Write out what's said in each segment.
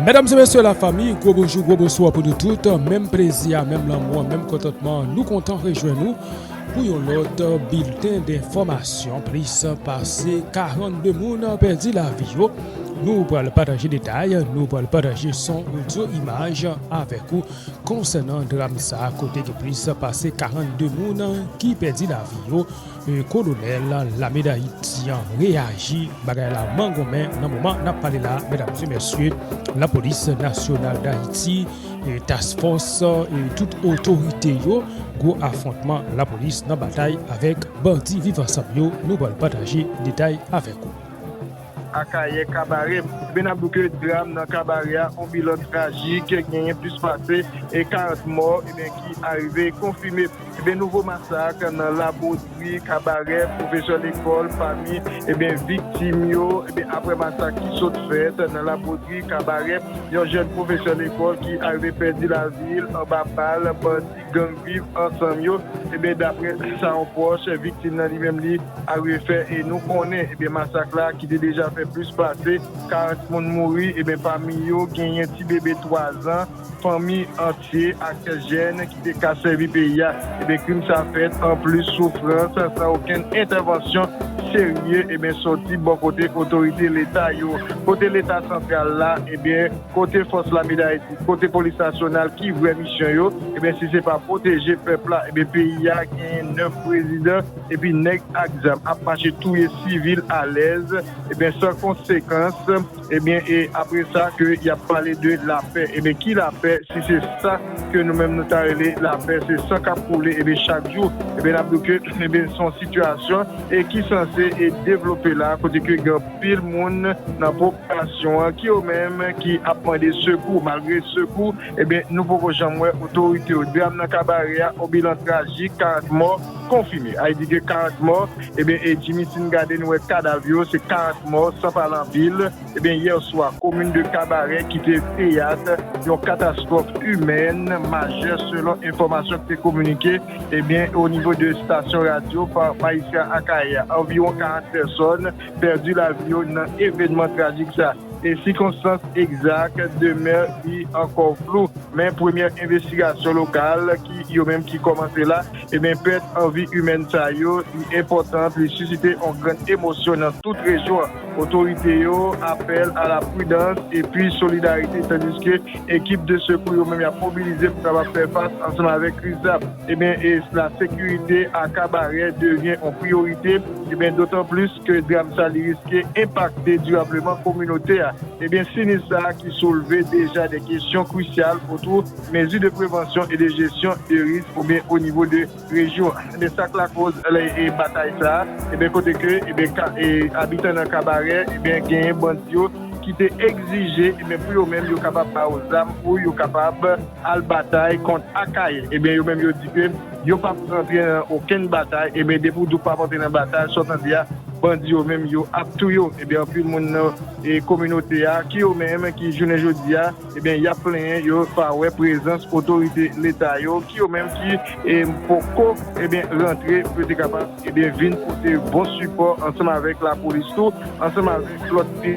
Medam e mesye la fami, gwo bonjou, gwo bonswa pou nou tout, menm plezi a, menm lanmou an, menm kontantman an, nou kontan rejwenn ou pou yon lòt bilten denfòmasyon, plis pase 42 moun pèdi lavi yo, nou pral pataje detay, nou pral pataje son, odyo, imaj avèk ou konsènan dram sa kote gen plis pase 42 moun ki pèdi lavi yo. Kolonèl lame Dayiti an reyaji, bagay la mangonmen nan moman nap pale la medam e mesye, lapolis nasyonal Dayiti, task fòs e tout otorite yo, gwo afwontman lapolis nan batay avèk bandi viv ansanm yo, nou pral pataje detay avèk ou. Akayè Kabarè, Gwen ap bouke dram nan Kabarè a, on bilan trajik, genyen plis pase 40 mò ki arive konfime. Ebyen nouvo masak nan labodri, kabarè, pwofesè lekòl pami ebyen viktim yo ebyen aprè masak ki sot fèt nan labodri, kabarè, yon jèn pwofesè lekòl ki arive pèdi lavil anba bal bandi gang viv ansanm yo ebyen daprè sa yon pwòch viktim nan li menm li arive fè e nou konnen ebyen masak la ki te deja fè plis pase 40 moun mouri ebyen pami yo genyen ti bebe 3 zan. Fanmi antye ak kèk jèn ki te ka sèvi peyi a, ebyen krim sa fèt anplis soufrans san okenn entèvansyon serye ebyen sòti bò kote otorite leta yo, kote leta santral la ebyen kote fòs lame dayiti, kote polis nasyonal ki vrè misyon yo ebyen si se pa pwoteje pèp la ebyen peyi a genyen 9 prezidan epi nèg ak zam ap mache touye sivil alèz ebyen san konsekans. Ebyen e apre sa ke yap pale de lapè ebyen ki lapè si se sa ke nou menm nou ta rele lapè se san kap koule ebyen chak jou ebyen nap di w ke ebyen son sitiyasyon e ki sanse e devlope la kote ke gen anpil moun nan popilasyon an ki yo menm ki ap mande sekou malgre sekou ebyen nou poko janm wè otorite yo dram nan kabare a on bilan trajik 40 mò. Konfime, Heidi gen 40 mò, ebyen e Jimmy si n gade nou wè kadav yo se 40 mò san pale anpil, ebyen yè swa komin de Kabarè ki te teyat yon katastwòf imèn majè selon enfòmasyon ki te kominike ebyen o nivo de stasyon radyo pa Magistrat Akayè a, anviwon 40 pèsòn pèdi lavi yo nan evènman trajik sa e sikonstans egzak demè ri ankò flou men premyè envestigasyon lokal ki yo menm ki kòmanse la. Ebyen pèt an vi imèn sa yo li enpòtant li sisite on grann emosyon nan tout rejyon an. Otorite yo apèl a la pridans epi solidarite tandiske ekip de sekou yo menm yap mobilize pou kapab fè fas ansanm avèk kriz sa. Ebyen e la sekirite a kabarè devyen on priyorite ebyen dotan plis. ke dram sa li riske enpakte dirableman kominote a, ebyen sinis sa ki soulve deja de kesyon krisyal otou mezi de prevansyon e de jesyon de risk oubyen o nivo de rejyon an. Ebyen sak lakoz batay sa, ebyen kote ke ebyen abitan nan Kabarè ebyen genyen bandi yo ki te egzije ebyen pou yo menm yo kapab ba yo zam pou yo kapab al batay kont Akayè. Ebyen yo menm yo di ke. Yo pap antre nan okenn batay ebyen depi ou di ou pap antre nan batay sa w tande ya bandi yo menm yo ap touye w ebyen anpil moun nan kominote ya ki yo menm ki jounen jodi ya ebyen yap plenyen yo pa wè prezans otorite leta yo ki yo menm ki poko ebyen rantre pou yo te kapab ebyen vin pote bon sipò ansanm avèk lapolis tou ansanm avèk lòt.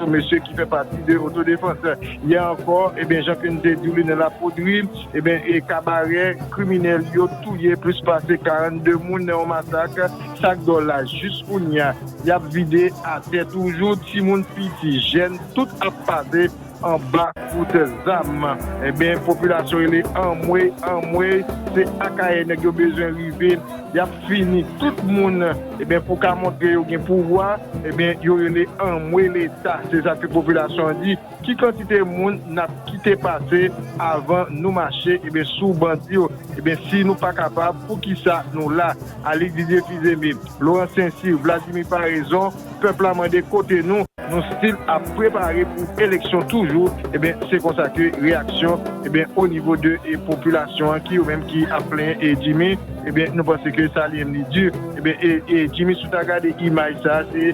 Pou mesye ki fè pati de otodefans, yè ankò, ebyen jan ke n te di w li nan Lapoudri, ebyen e kabarè kriminèl yo touye plis pase 42 moun nan yon masak, sak dòl la jis kounya y ap vide atè toujou, timoun piti, jèn tout ap pase anba kout zam, ebyen popilasyon rele anmwey, anmwey se Akayè nèg yo bezwen rive, y ap fini tout moun. Ebyen pou ka montre yo gen pouvwa ebyen yo rele anmwe leta se sa ke popilasyon an di ki kantite moun nap kite pase avan nou mache ebyen sou bandi yo ebyen si nou pa kapab pou kisa nou la Alix Didier Fizeme Laurent Saincy Vladimir Paraison pèp la mande kote nou nou stil ap prepare pou eleksyon toujou ebyen se konsa ke reyaksyon ebyen onivo de popilasyon an ki yo menm ki ap plenyen e Jimmy. Ebyen nou panse ke Sally M li dur ebyen e Jimmy sou ta gade imaj sa se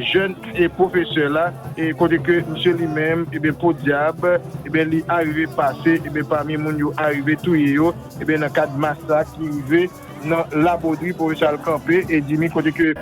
jèn e professeur la e kote ke misye li menm ebyen podiab ebyen li arive pase ebyen pami moun yo arive touye yo ebyen nan kad masak ki rive nan Laboderie professeur al kanpe e Jimmy kote ke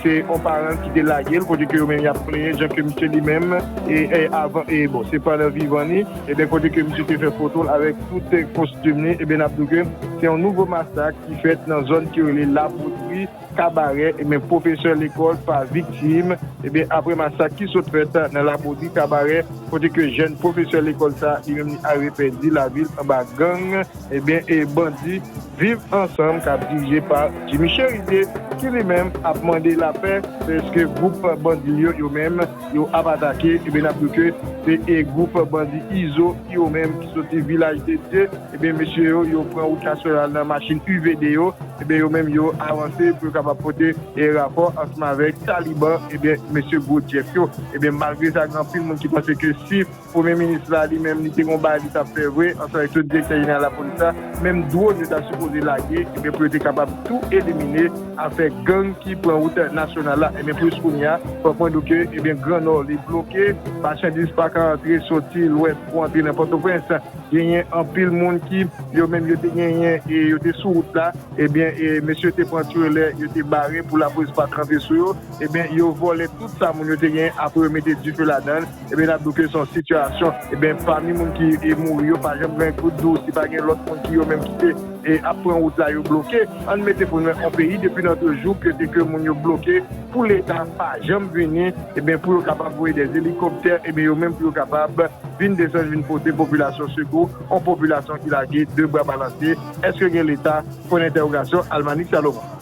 se on paranl ki te lagel kote ke yo menm yap plenyen jan ke misye li menm e avan e bon se pandan vivan li. Eben kote ke misye te fè foto l avèk tout kostim li, eben nap di w ke se yon nouvo masak ki fèt nan zòn ki rele La Potri, Kabarè, eben pwofesè lekòl pa viktim, eben aprè masak ki sot fèt nan La Potri, Kabarè, kote ke jèn pwofesè lekòl sa li menm li arive pèdi lavi l anba gang, eben bandi Viv Ansanm kap dirije pa Jimmy Cherizier ki li menm ap mande lapè, pèske gwoup bandi l yo yo menm. Yo ap atake ebyen nap diw ke se e group bandi izo ki yo menm ki soti vilaj de Dye ebyen mesye yo yo pran wout nasyonal nan machin UVD yo ebyen yo menm yo avanse pou yo kapab pote e rapò ansanm avèk taliban ebyen mesye gwo Jeff yo ebyen malgre sa gen anpil moun ki panse ke si Premye minis la li menm li te gon bagay li tap fè vre ansanm avèk tout direktè jeneral lapolis la menm drone yo ta sipoze lage ebyen pou yo te kapab tou elimine afè gang ki pran wout nasyonal la ebyen plis kounya fòk mwen di w ke ebyen gran nò li bloke machandiz paka antre soti lwès pou antre nan pòtoprens genyen anpil moun ki yo menm yo te genyen e yo te sou wout la ebyen e mesye te pran trelè yo te bare pou lapolis pa tranpe sou yo ebyen yo vòlè tout sa moun yo te genyen apre yo mete dife ladann. Ebyen nap diw ke son sitiyasyon ebyen pami moun ki mouri yo pa janm jwenn kout dou si pa gen lòt moun ki yo menm ki te ap pran wout la yo bloke ann mete pou nou on peyi depi nan de jou ke te ke moun yo bloke pou leta pa janm vini ebyen pou yo kapab voye dè elikoptè ebyen yo menm pou yo kapab vin desann vin pote popilasyon sekou on popilasyon ki lage de bra balanse eske gen leta pwen dentèwogasyon Almanick Salomon.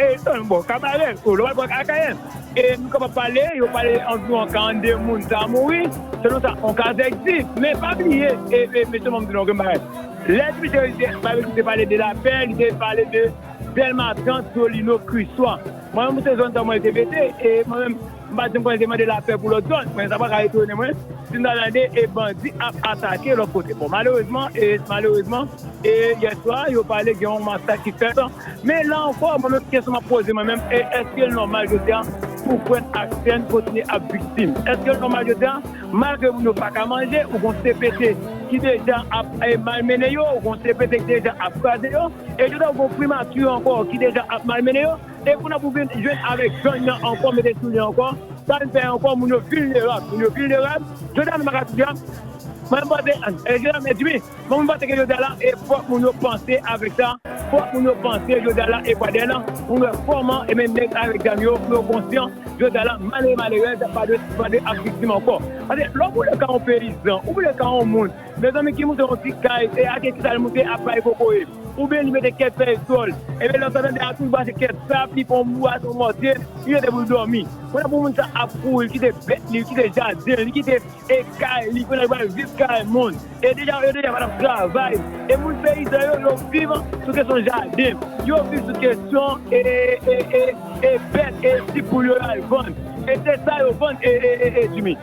Etan bò Kabarè o lòbal bò Akayè e nou kapab pale yo pale anviwon 42 moun ta mouri selon sa on kazèk di men pa bliye e mesye fòm di nou yon bagay lè Dimitri Babekyou te pale de lapè li te pale de Delma 30 Solino Kriswa mwen menm se zòn sa mwen te mete e mwen menm M pa janm konnen te mande lapè pou lòt zòn, men sa pa ka etone mwen si m ta tande e bandi ap atake lòt kote. Bon malerezman e malerezman e yèswa yo pale gen yon masak ki fèt men la ankò mwen menm kesyon m ap poze mwen menm e èske l nòmal jodi a pou frè n ak sè n kontinye ap viktim? Èske l nòmal jodi a malgre moun yo pa ka manje ou gon CPT ki deja ap e malmennen yo, ou gon CPT ki deja ap kraze yo e jodi a ou gon primati ankò ki deja ap malmennen yo? E kounye a pou vin jwenn avèk gang nan ankò mete sou li ankò, sa vin fè ankò moun yo vilnerab, moun yo vilnerab, jodi a nou pa ka di a, mwen panse, jodi a mèdi wi, men mwen panse ke jodi a la e fòk moun yo panse avèk sa, fòk moun yo panse jodi a la e gade la pou nou wè kòman e men nèg avèk zam yo pou yo konsyan jodi a la malere malerèz pa dwe ap viktim ankò. Paske lè ou boule ka yon peyizan, ou boule ka yon moun. Mezanmi ki moute yon ti kay e ake kisa li moute ap bay kokoye oubyen li mete kèk fèy djòl ebyen lèw tande a tout bwase kèk sab li pran yon bwase yon mòtye li rete poul dòmi pandan pou moun sa ap kouri li kite bèt li li kite jadenl li kite e kay li pandan li pral viv kay moun e deja yo deja patap travay e moun peyizan yo yo viv sou kesyon jaden yo viv sou kesyon e e e e bèt e ti poul yo yo al vann e se sa yo vann e e e e djimi.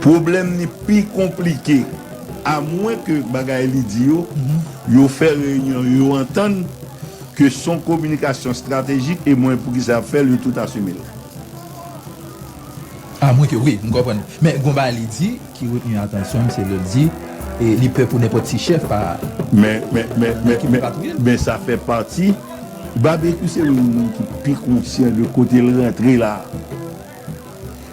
Pwoblèm ni pi konplike. A mwen ke bagay li di yo, yo fè reyinyon, yo antann ke son kominikasyon estratejik e mwen poukisa yap fèl yo tout asumel. A mwen ke wi, m konprann. Men gon bagay li di ki retni atansyonm se lèl di li pè pou nenpòt ti chèf pa. Men, men, men, men, men, men sa fè pati. Babekyou se youn nan moun ki pi konsyan de kotel rantre la.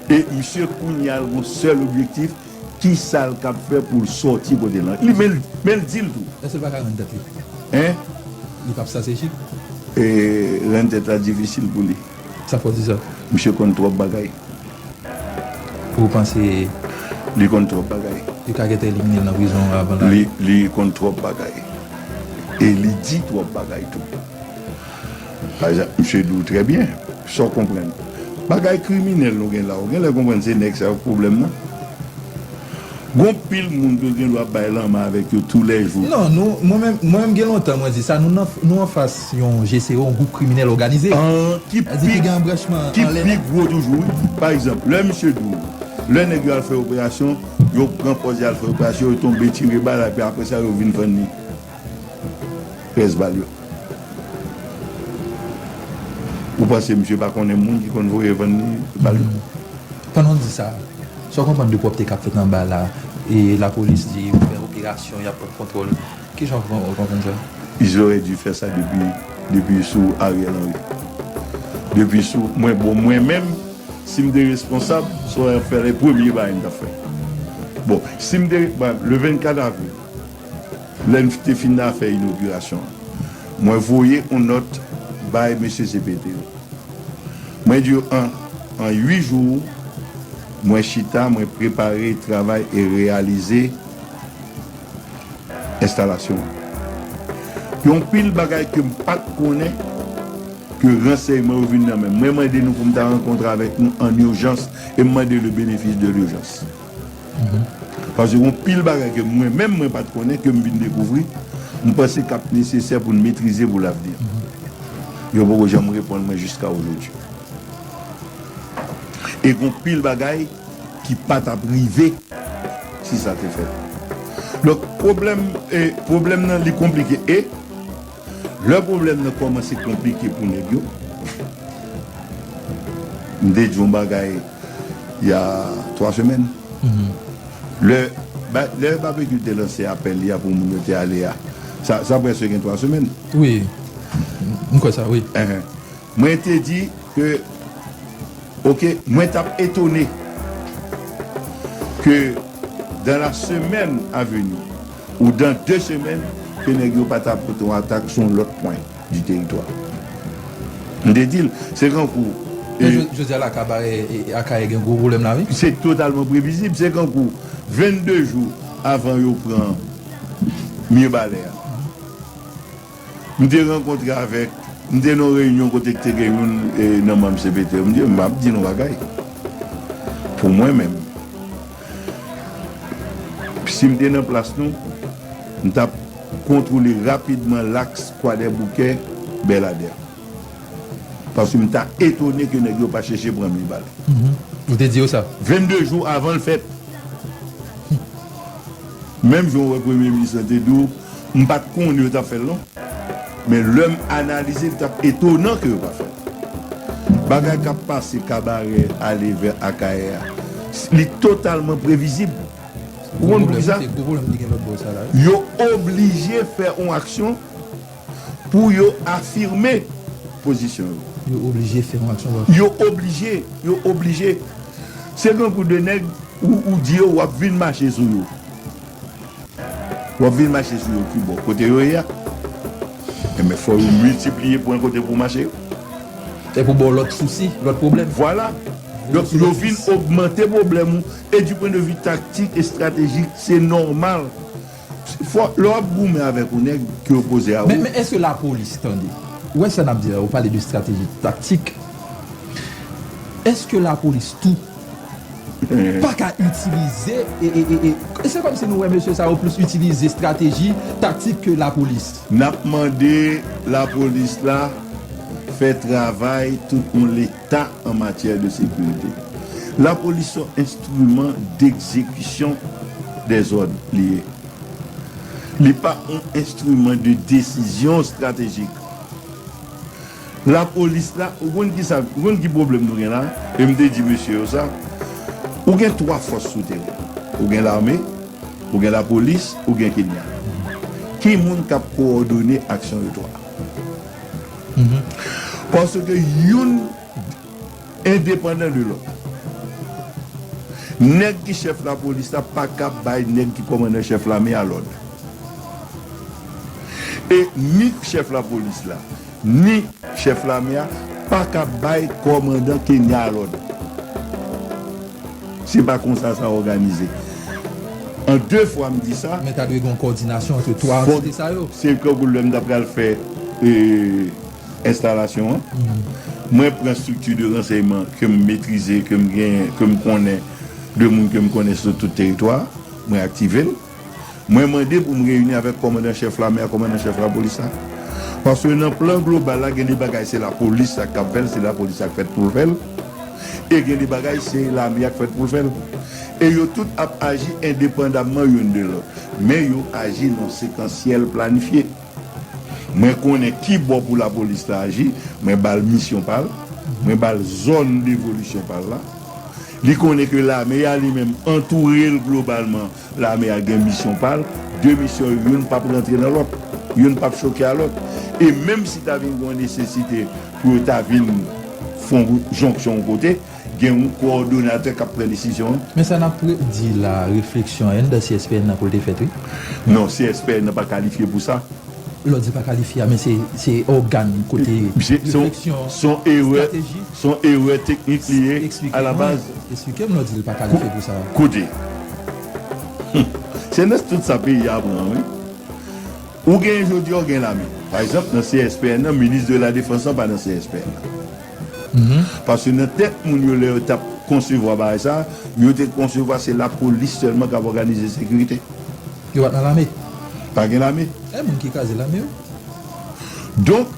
E misye kounya l gon sèl objektif kisa l kab fè pou l sòti kote l lan. Li men l men l di l tou. Èske l pa ka rann tèt li? Hein? Li pap stratejik? E rann tèt la difisil pou li. Sa fè w di sa? Misye konn twòp bagay. Ou panse. Li konn twòp bagay. Yo ka gentan elimine l nan prizon an avan l ale? Li konn twòp bagay. E li di twòp bagay tou. Misye di w trè byen sa w konprann. Bagay kriminèl nou gen la, ou genlè konprann se nèg sa yo k pwoblèm nan? Gon pil moun ke w gen dwa bay lanmen avèk yo tou lè jou. Non, nou, mwen menm, mwen menm gen lontan mwen di sa, nou nan, nou anfas yon GCO, yon gwoup kriminèl òganize. An, ki pi, ki gen anbranchman anlè nan. Ki pi gwo toujou wi. Pa egzanp, lè misye di w, lè nèg yo al fè operasyon, yo pran pòz y al fè operasyon, yo tonbe tire bal api aprè sa yo vin fann li. Pès bal yo. Ou panse misye pa konnen moun ki konn voye vann li bal yo? Pandan w di sa, sa w konprann de pwòpte k ap fèt anba la e lapolis di yo fè operasyon, y ap pran kontwòl? Ki jan w konprann sa? Islòre di fè sa depi depi sou Ariel Henry. Depi sou mwen bon mwen menm si m te responsab sa w ap fè la e premye bagay m t ap fè. Bon si m te ba le 24 avril. Lè n te fin nan fè inogirasyon an, mwen voye yon nòt bay mesye cpt yo. Mwen di yo an an ui jou mwen chita mwen prepare travay e reyalize enstalasyon an. Yon pil bagay ke m pa t konnen ke ransèyman yo vin nan men m. Mwen mande nou pou m ta rankontre avèk nou an urjans e m mande le benefis de l'urgence. Paske gon pil bagay ke mwen menm mwen pat konnen kem vin dekouvri m panse kap nesesè poun metrize pou lavni. Yo poko janm reponn mwen jiska ojodi. E gon pil bagay ki pa tap rive si sa te fèt. Donk pwoblèm e pwoblèm nan li konplike e. Lè pwoblèm nan kòmanse konplike pou nèg yo, m te di yon bagay y a 3 semèn, lè Babekyou te lanse apèl li a pou moun yo te ale a, sa prèske gen 3 semèn. Wi, m kwè sa wi. Mwen te di ke ok mwen tap etone ke dans la semaine à venir ou dans deux semaines ke nèg yo pa ta pote yon atak sou yon lòt pwen di teritwa. M te di l se kankou. Men jodi a la kabarè Akayè gen gwo pwoblèm la wi. Se totalman previzib. Se kankou 22 jou avan yo pran Mirbalè a. M te rankontre avèk, m te nan yon reyinyon kote k te gen youn nan manm cpt yo, m di yo, m ap di nou yon bagay, pou mwen menm, si m te nan plas nou, m t ap kontwole rapidman laks Kwadèboukè, Bèladè. Paske m ta etone ke nèg yo pa chèche pran mil bal. Ou te di yo sa? 22 jou avan l fèt. Menm jan ou wè Premye Minis lan te di w, m pa t konnen yo t ap fè l non. Men lè m analize li t ap etonan ke yo pa fè l. Bagay k ap pase Kabarè ale vè Akayè a, li totalman previzib. Ou konn poukisa? Yo oblije fè yon aksyon. Pou yo afime pozisyon yo. Yo oblije fè yon aksyon bòyko. Yo oblije, yo oblije. Se grangou de nèg ou di yo wap vin mache sou yo. Wap vin mache sou yo ki bò? Kote yo ye a? Enben fò yo miltipliye pwen kote pou mache yo. E pou ba w lòt sousi, lòt pwoblèm. Vwala. Donk yo vin ogmante pwoblèm ou. E di pwendevi taktik, estratejik, se nòmal. Fò lè wap goumen avèk ou nèg ki opoze a ou. Men eske la polis tande. Ou wè sa nap di la ou pale de strateji taktik eske la polis tou paka itilize e se kòmsi nou wè mesye sa yo plis itilize strateji taktik ke la polis. Nap mande la polis la fè travay tout yon leta an matyè de sekirite. La polis son. Instrument d'exécution des ordres li ye. Li pa yon instrument de décision stratégique. Lapolis la, ou konn ki sa, ou konn ki pwoblèm nou gen la, e m te di mesye yo sa, ou gen 3 fòs sou teren. Ou gen lame, ou gen lapolis, ou gen Kenya. Ki moun k ap kowòdone aksyon yo 3? Paske youn. Endepandan de lòt. Nèg ki chèf lapolis la pa kab bay nèg ki kòmandan chèf lame a lòd. E ni chèf lapolis la, ni chèf lame a pa kab bay kòmandan Kenya a lòd. Se pa konsa sa òganize. An de fwa m di sa. Men ta dwe gen yon kòdinasyon antre twa antite sa yo. Se tankou lè m ta pral fè Enstalasyon an. Mwen pran estrikti de ransèyman ke m metrize, ke m gen, ke m konnen, de moun ke m konnen sou tout teritwa a. Mwen aktive l. Mwen mande pou m reyini avèk kòmandan chèf lame a, kòmandan chèf lapolis la. Paske nan plan global la, gen de bagay se lapolis la ki t ap fè l, se lapolis la ki fèt pou l fè l. E gen de bagay se lame a ki fèt pou l fè l. E yo tout ap aji endepandamman youn de lòt. Men yo aji nan sekansyèl planifye. Mwen konnen ki bò pou lapolis ta aji, mwen ba l misyon pa l, mwen ba l zòn devolisyon pa l la. Li konnen ke lame a li menm antoure l globalman, lame a gen misyon pa l, de misyon yo youn pap rantre nan lòt, youn pap choke a lòt. E menm si ta vin gen yon nesesite pou yo ta vin fè yon jonksyon yon kote, Gen yon kowòdonatè k ap pran desizyon an. Men sa n ap di la a, refleksyon an anndan CSPN nan pou l te fèt wi. Non, CSPN nan pa kalifye pou sa. Lè w di pa kalifye a, men se se ògàn kote refleksyon, estrateji. Se yon erè teknik li ye alabaz. Esplike m lè w di l pa kalifye pou sa. Koute, se nan tout sa peyi a pran wi. Ou genyen jodi a, ou gen lame. Pa egzanp, nan CSPN nan, minis de la defans lan pa nan CSPN nan. Paske nan tèt moun yo lè yo tap konsevwa bagay sa, yo te konsevwa se lapolis sèlman kap òganize sekirite. Yo pat nan lame? Pa gen lame. E moun ki kraze lame yo? Donk,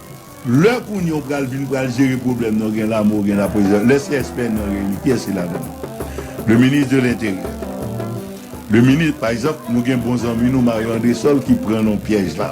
lè kounye ou pral vin pral jere pwoblèm nan ou gen lame ou gen lapolis, lè CSPN nan reyini kiyès ki ladan l? Le minis de lenteryè. Le minis, pa egzanp, nou gen bon zanmi nou Mario Andresol ki pran nan pyèj la.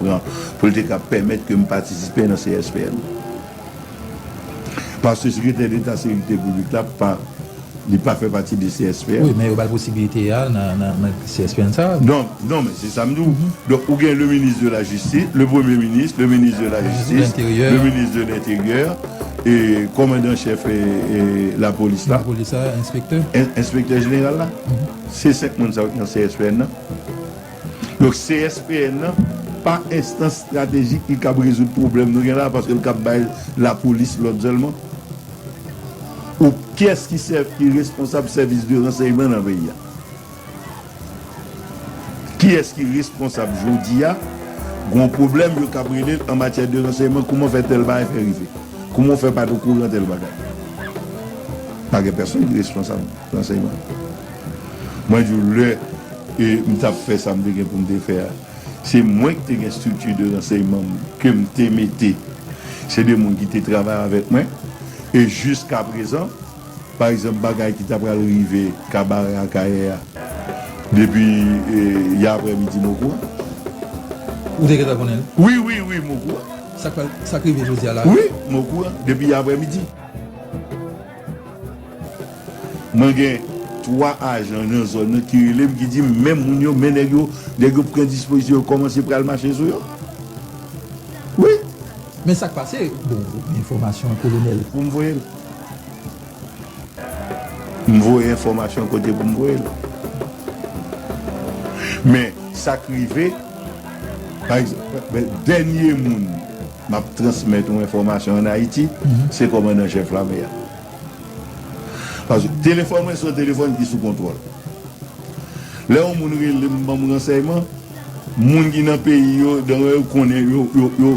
pran pou l te ka pèmèt ke m patisipe nan CSPN paske Sekretè Deta Sekirite Piblik la pa li pa fè pati de CSPN. Wi, men yo ba l posibilite a nan CSPN sa a. Donk, non men se sa m di w. Donk ou gen le minis de la jistis, le premye minis, le minis de la jistis, le minis de lenteryè, kòmandan chèf lapolis la, enspektè jeneral la, se 5 moun sa yo ki nan CSPN nan. Donk CSPN nan pa enstans stratejik ki kab rezoud pwoblèm nou gen la a paske l kab bay lapolis lòd sèlman? Ou kiyès ki sèvi ki responsab sèvis de ransèyman nan peyi a? Kiyès ki responsab jodi a gon pwoblèm yo kab rele l an matyè de ransèyman kouman w fè tèl bagay fè rive? Kouman w fè pa t okouran tèl bagay? Pa gen pèsonn ki responsab ransèyman. Mwen di w lè m t ap fè sa m te gen pou m te fè a, se mwen ki te gen estrikti de ransèyman m ke m te mete. Se de moun ki te travay avèk mwen. E jiskaprezan, pa egzanp bagay ki ta pral rive Kabarè Akayè a depi yè aprèmidi m okouran. Ou te gentan konnen l? Wi, wi, wi, m okouran. Sa k rive jodi a la? Wi, m okouran depi yè aprèmidi. Mwen gen 3 ajan nan zòn nan ki rele m ki di m men moun yo men nèg yo, nèg yo pran dispozisyon yo kòmanse pral mache sou yo wi. Men sak pase bon enfòmasyon an kolonèl. Pou m voye l. M voye enfòmasyon an kote pou m voye l. Men sak rive pa egzanp dènye moun. M ap transmèt ou enfòmasyon an Ayiti, se kòmandan an chèf lame a. Paske telefòn mwen se yon telefòn ki sou kontwòl. Lè yon moun rele m ban m ransèyman, moun ki nan peyi yo, dan yo konnen yo.